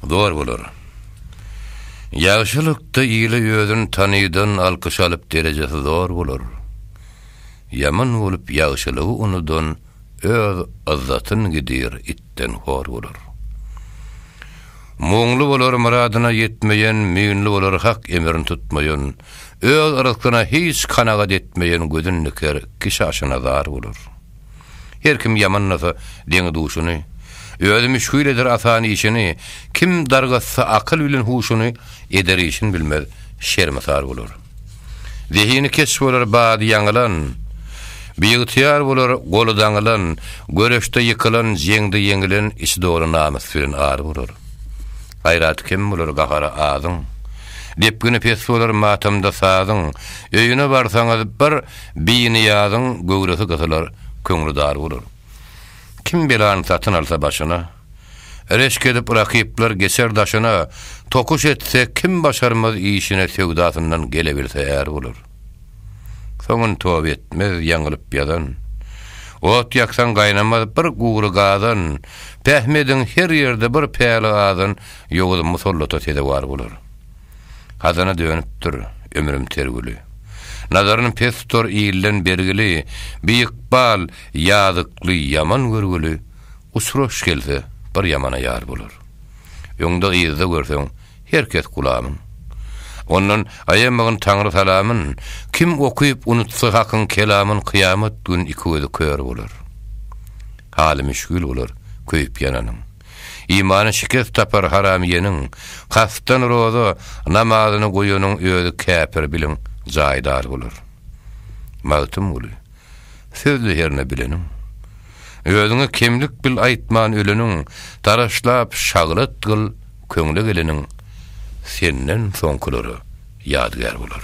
Zor bolar. Ýagşylykda ile özün tanydan alkyş alyp derejesi zor bolar. Ýaman bolup ýagşylygy unudan öz yzzatyn gidir itden hor bolar. Muňly bolar myradyna ýetmeýen müýnli bolar hak emrin tutmaýan öz ryzkyna hiç kanagat etmeýen gözün diker kişi aşyna zar bolar. Her kim ýamanlasa, deňi-duşuny, Özi müşgil eder asan işini, Kim dargatsa akyl bilen huşuny, Eder işin bilmez, şermisar bolar. Zehini keç bolar bady ýaňylan, Biygtyýar bolar goly daňylan, Göreşde ýykylan, jeňde ýeňilen, Içi doly namys bilen ar bolar. Gaýraty kem bolar gahary azyň, Depgini pes bolar matamda sazyň, Öýüne barsaňyz, bir Biniýazyň göwresi gysylar, köňli dar bolar. Kim belany satyn alsa başyna, Reşk edip rakyplar geçer daşyna, Tokuş etse kim başarmaz işine Söwdasyndan gelebilse är bolar. Soňyn toba etmez ýaňylyp ýazan, Ot ýaksaň gaýnamaz bir gury gazan, Pähmi ediň her ýerde bir päli azan, Ýowuz musallata sezewar bolar. Hazana dönüpdir, ömrüm tergüli. Nazaryn pes tutar ilden bergili, Bir ykbal, ýazykly, ýaman görgüli, Uçraş gelse, bir ýamana ýar bolar. Öňde-yzda görseň, her kes gulamyn. Ondan aýamagyn Taňry salamyn, Kim okyp unutsa Hakyň kelamyn Kyýamat gün iki gözi kör bolar. Haly müşgil bolar köýüp ýananyň. Imany şikes tapar haramyýeniň, Kastdan roza namazyny goýanyň özi käpir biliň, jaýdar bolar. Magtymguly, Sözli hernä bileniň. Özüňe kemlik bil aýtman öleniň, Taraşlap şaglat gyl köňle geleniň, Senden soňkylara ýadygär bolar.